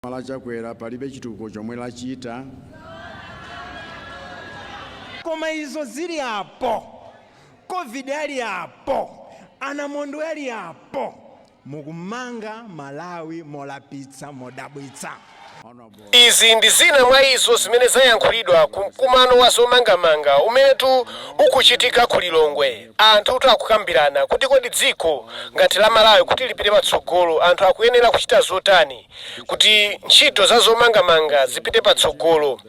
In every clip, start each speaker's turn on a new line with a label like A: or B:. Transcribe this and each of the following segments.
A: boma la Chakwera palibe chitukuko chomwe
B: lachita. Koma izo zili apo, covid ali apo, anamondwe ali apo, mukumanga Malawi molapitsa,
C: modabwitsa. Izi ndi zina mwa izo zimene zayankhulidwa ku mkumano wa zomangamanga umenetu ukuchitika ku Lilongwe. Anthutu akukambirana kuti kodi dziko ngati la Malawi kuti lipite patsogolo anthu akuyenera kuchita zotani kuti ntchito za zomangamanga zipite patsogolo.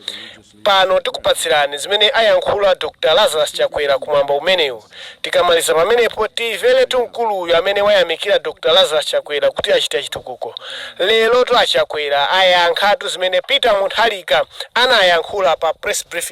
C: Pano tikupatsirani zimene ayankhula Dr Lazarus Chakwera kumwambo umenewu. Tikamaliza pamenepo tiveretu mkuluyu amene wayamikira Dr Lazarus Chakwera kuti achita chitukuko. Lerotu a Chakwera ayankhatu zimene Peter Mutharika anayankhula pa press briefing.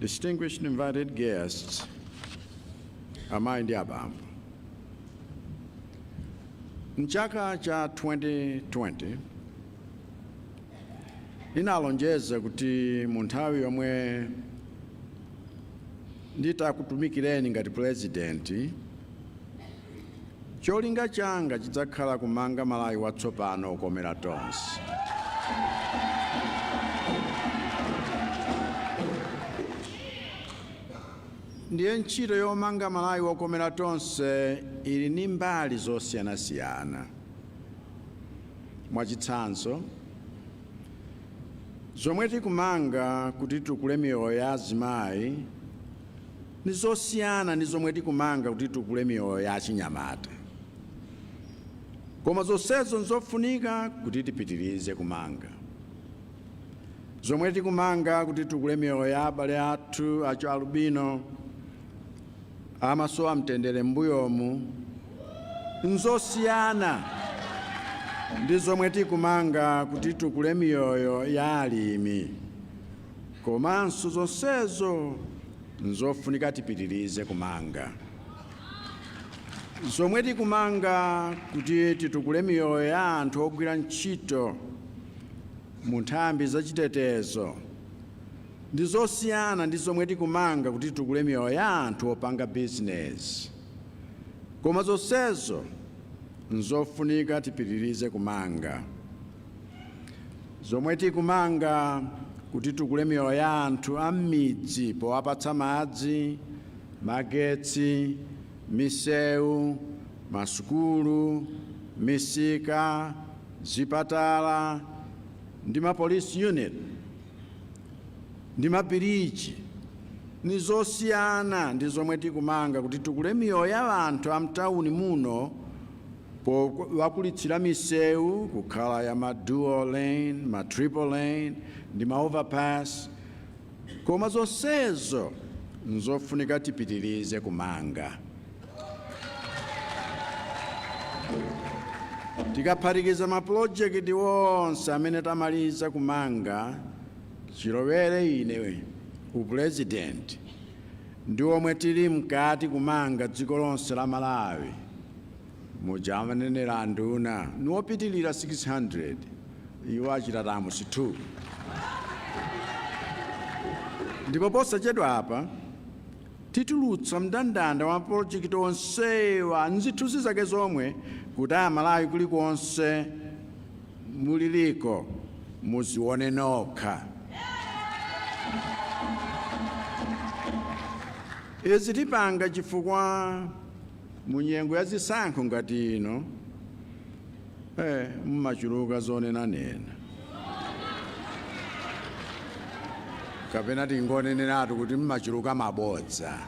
A: Distinguished invited guests, amayi ndi abambo. Mchaka cha 2020 ndinalonjeza kuti mu nthawi yomwe nditakutumikireni ngati pulezidenti Cholinga changa chidzakhala kumanga Malawi watsopano okomera tonse. Ndiye ntchito yomanga Malawi wokomera tonse ili ndi mbali zosiyanasiyana. Mwachitsanzo, zomwe tikumanga kuti titukule miyoyo ya azimayi, Ni zosiyana ndi zomwe tikumanga kuti titukule miyoyo ya achinyamata. Koma zonsezo n'zofunika kuti tipitirize kumanga. Zomwe tikumanga kuti titukule miyoyo ya abale athu achialubino amasowa mtendere m'mbuyomu n'zosiyana ndi zomwe tikumanga kuti titukule miyoyo ya alimi. Komanso zonsezo Nzofunika tipitirize kumanga zomwe tikumanga kuti titukule miyoyo ya anthu ogwira ntchito mu nthambi za chitetezo ndi zosiyana ndi zomwe tikumanga kuti titukule miyoyo ya anthu opanga bizinezi koma zonsezo nzofunika tipitirize kumanga. zomwe tikumanga kuti titukule miyoyo ya anthu a m'midzi powapatsa madzi, magetsi, misewu, masukulu, misika, zipatala ndi ma police unit ndi mabiriji ni zosiyana ndi zomwe tikumanga kuti titukule miyoyo ya anthu a mtawuni muno powakulitsira misewu kukhala ya ma dual lane ma triple lane ndi ma overpass koma zonsezo nzofunika tipitirize kumanga tikaphatikiza mapulojekiti onse amene tamaliza kumanga chilowere ine upulezidenti ndi omwe tili mkati kumanga dziko lonse la malawi muja amanenera anduna niwopitilira 600 iwo achita term 2 ndipo posachedwa apa titulutsa mndandanda wa mapolojekiti onsewa nzithunzi zake zomwe kuti amalawi kulikonse muliliko muzione nokha izi tipanga chifukwa mu nyengo ya zisankho ngati ino mumachuluka zonenanena kapena tingoneneratu kuti mumachuluka mabodza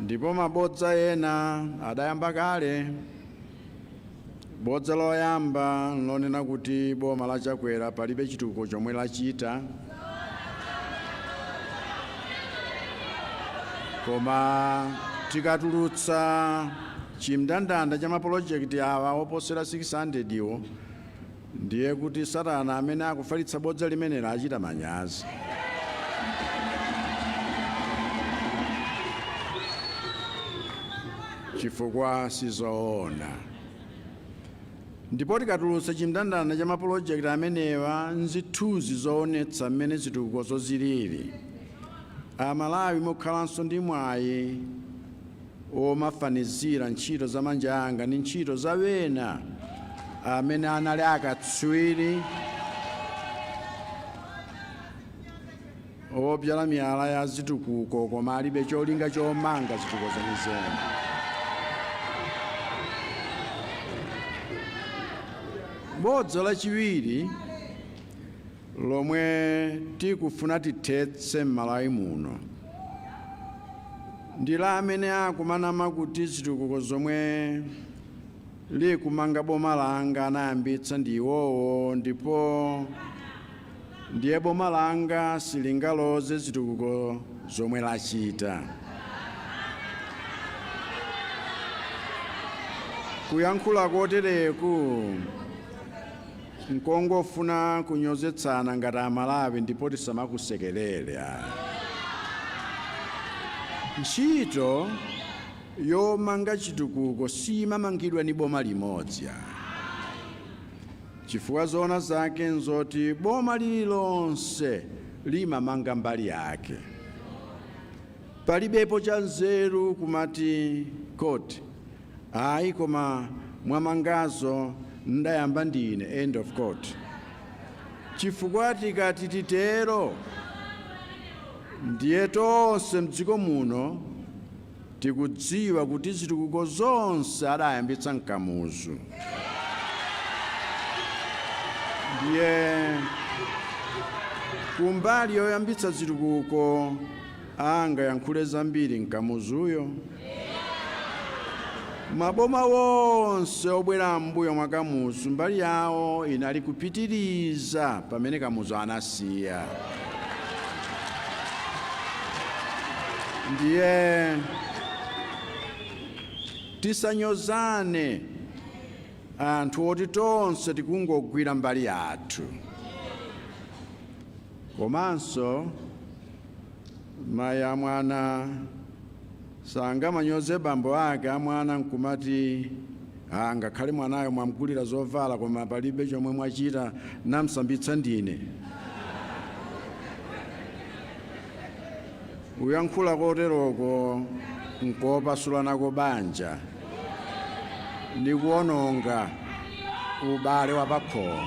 A: ndipo mabodza ena adayamba kale Bodza loyamba nlonena kuti boma la Chakwera palibe chitukuko chomwe lachita. Koma tikatulutsa chimndandanda cha mapolojekiti awa oposera 600 wo Ndiye kuti Satana amene akufalitsa bodza limenelo achita manyazi. chifukwa si zoona. Ndipo tikatulutsa chimndandanda cha mapulojekiti amenewa nzithunzi zoonetsa mmene zitukukozo zilili, Amalawi mukhalanso ndi mwayi omafanizira ntchito za manja anga ndi ntchito za ena amene anali akatswiri obzala miyala ya zitukuko koma alibe cholinga chomanga zitukuko zenizeni. Bodza lachiwiri lomwe tikufuna tithetse m'Malawi muno ndi la amene akumanama kuti zitukuko zomwe likumanga boma langa anayambitsa ndi iwowo ndipo ndiye boma langa silingaloze zitukuko zomwe lachita. Kuyankhula kotereku Nkongofuna kunyozetsana ngati a Malawi ndipo tisamakusekelele. Ntchito yomanga chitukuko simamangidwa ni boma limodzi. Chifukwa zoona zake nzoti boma lililonse limamanga mbali yake. Palibepo chanzeru kumati koti Ayi koma mwamangazo ndayamba ndine, end of quote. Chifukwa tikati titero ndiye tonse m'dziko muno tikudziwa kuti zitukuko zonse adayambitsa n'Kamuzu. Ndiye kumbali yoyambitsa zitukuko angayankhule zambiri nkamuzuyo? Maboma wonse obwera m'mbuyo mwa Kamuzu mbali yawo inali kupitiriza pamene Kamuzu anasiya. Ndiye tisanyozane anthu oti tonse tikungogwira mbali yathu. Komanso Mayi a mwana sangamanyoze bambo ake a mwana nkumati ah, ngakhale mwanayo mwamgulira zovala koma palibe chomwe mwachita, namsambitsa ndine. Kuyankhula koteroko nkopasula nako banja. ndi kuwononga ubale wa pakhomo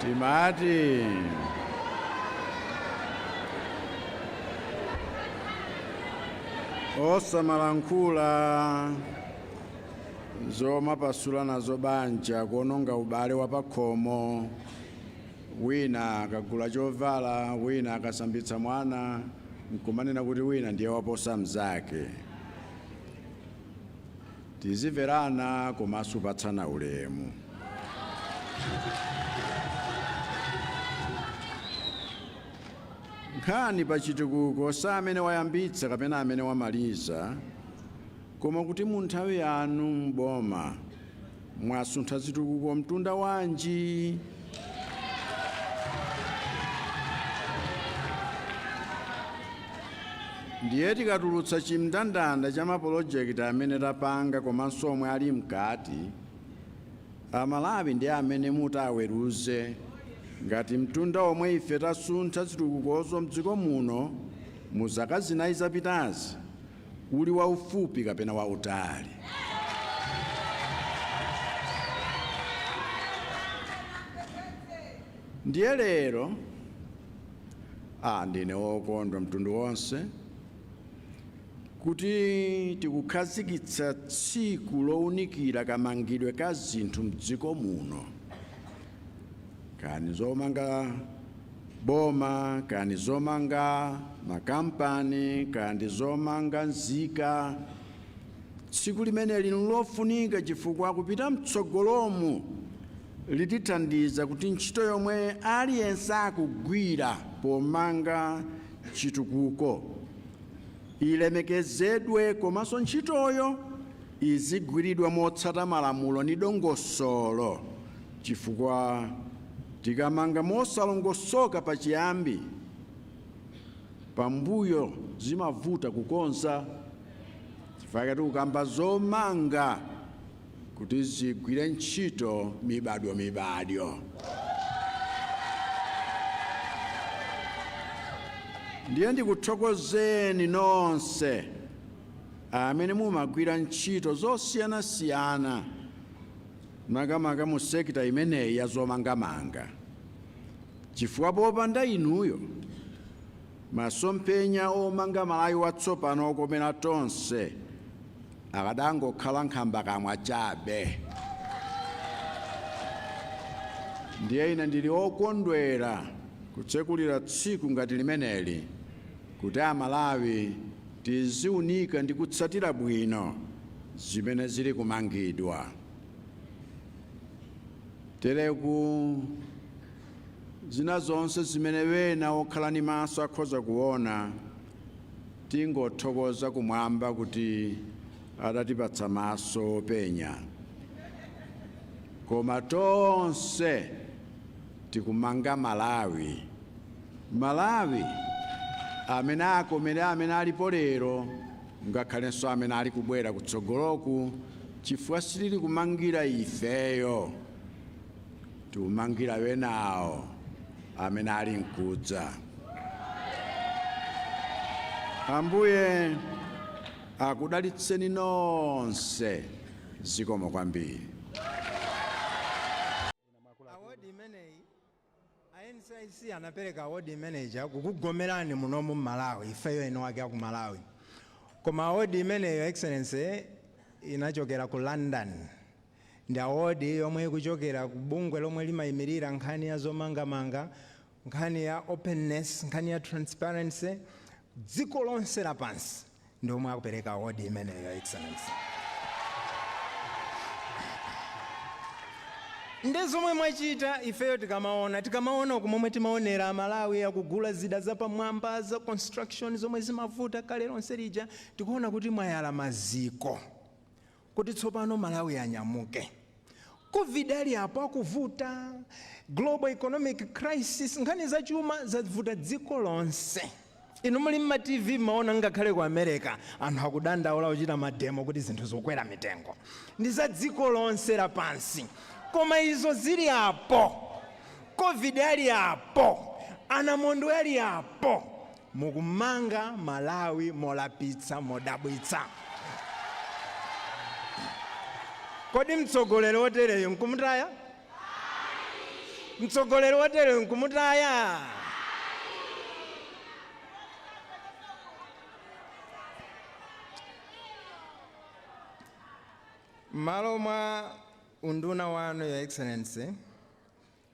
A: timati osamalankhula zomapasula nazo banja kuononga ubale wa pakhomo Wina akagula chovala, wina akasambitsa mwana, n'kumanena kuti wina ndiye waposa mnzake. Tizimverana komanso kupatsana ulemu. Nkhani pa chitukuko si amene wayambitsa kapena amene wamaliza, koma kuti mu nthawi yanu m'boma Mwasuntha zitukuko mtunda wanji? Ndiye tikatulutsa chimndandanda cha mapolojekiti amene tapanga komanso omwe ali mkati, Amalawi ndi amene ati aweruze ngati mtunda omwe ife tasuntha zitukukozo m'dziko muno mu zaka zinayi zapitazi uli waufupi kapena wautali? Ndiye lero ah, ndine wokondwa mtundu wonse kuti tikukhazikitsa tsiku lowunikira kamangidwe ka zinthu mdziko muno kaya ndi zomanga boma kaya ndi zomanga makampani kaya ndi zomanga nzika, tsiku limeneli n'lofunika chifukwa kupita m'tsogolomu litithandiza kuti ntchito yomwe aliyense akugwira pomanga chitukuko ilemekezedwe komanso ntchitoyo izigwiridwa motsata malamulo ndi dongosolo. Chifukwa tikamanga mosalongosoka pachiyambi, pambuyo zimavuta kukonza. Chifukwa chake tikukamba zomanga kuti zigwire ntchito mibadwomibadwo. Ndiye ndikuthokozeni nonse amene mumagwira ntchito zosiyanasiyana makamaka mu sector imeneyi ya zomangamanga chifukwa popanda inuyo masomphenya omanga Malawi watsopano okomera tonse akadangokhala nkhambakamwa chabe. Ndiye ine ndili okondwera kutsekulira tsiku ngati limeneli kuti a Malawi Tiziunika ndi kutsatira bwino zimene zili kumangidwa. Tereku, zina zonse zimene ena okhala ndi maso akhoza kuona, tingothokoza kumwamba kuti adatipatsa maso openya. Koma tonse tikumanga Malawi. Malawi amene akomere amene alipo lero ngakhalenso amene ali kubwera kutsogoloku chifukwa sitili kumangira ifeyo, tikumangira enawo amene ali nkudza. Ambuye akudalitseni nonse. Zikomo kwambiri.
B: A NCIC anapereka award imene ija kukugomerani munomu m'Malawi ifeyo eni wake aku Malawi koma award imeneyi your excellency inachokera ku London ndi award yomwe ikuchokera ku bungwe lomwe limaimilira nkhani ya zomangamanga nkhani ya openness nkhani ya transparency dziko lonse lapansi ndi omwe akupereka award imeneyi, Your Excellency. Nde zomwe mwachita ifeyo tikamaona, tikamaona umo momwe timaonera Amalawi akugula zida zapamwamba za construction zomwe zimavuta kale lonse lija, tikuona kuti mwayala maziko Kuti tsopano Malawi anyamuke. Covid ali apo akuvuta, global economic crisis, nkhani za chuma zavuta dziko lonse. Inu muli mma TV mmaona ngakhale ku America anthu akudandaula kuchita mademo kuti zinthu zakwera mitengo. Ndi za dziko lonse lapansi. Koma izo zili apo, Covid ali apo, anamondwe ali apo, Mukumanga Malawi molapitsa modabwitsa. Kodi mtsogoleri wotereyu nkumutaya? Mtsogoleri wotereyu nkumutaya? M'malo mwa unduna wanu, Your Excellency,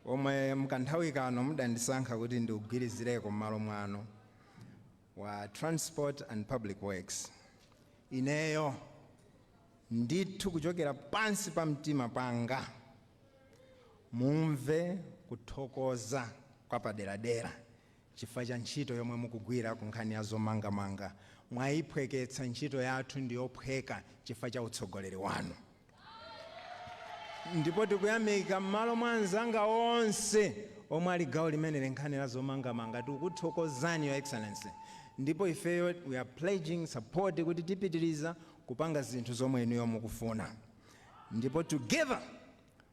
B: omwe mkanthawi kano mudandisankha kuti ndiugwirizireko mmalo mwanu, wa Transport and Public Works, ineyo ndithu kuchokera pansi pa mtima panga mumve kuthokoza kwapaderadera chifukwa cha ntchito yomwe mukugwira ku nkhani ya zomangamanga. Mwayiphweketsa ntchito yathu ndi yophweka chifukwa cha utsogoleri wanu ndipo tikuyamika m'malo mwa anzanga onse omwe ali gawo limeneli nkhani ya zomangamanga. Tikuthokozani Your Excellency ndipo ifeyo we are pledging support kuti tipitiriza kupanga zinthu zomwe inuyo mukufuna ndipo together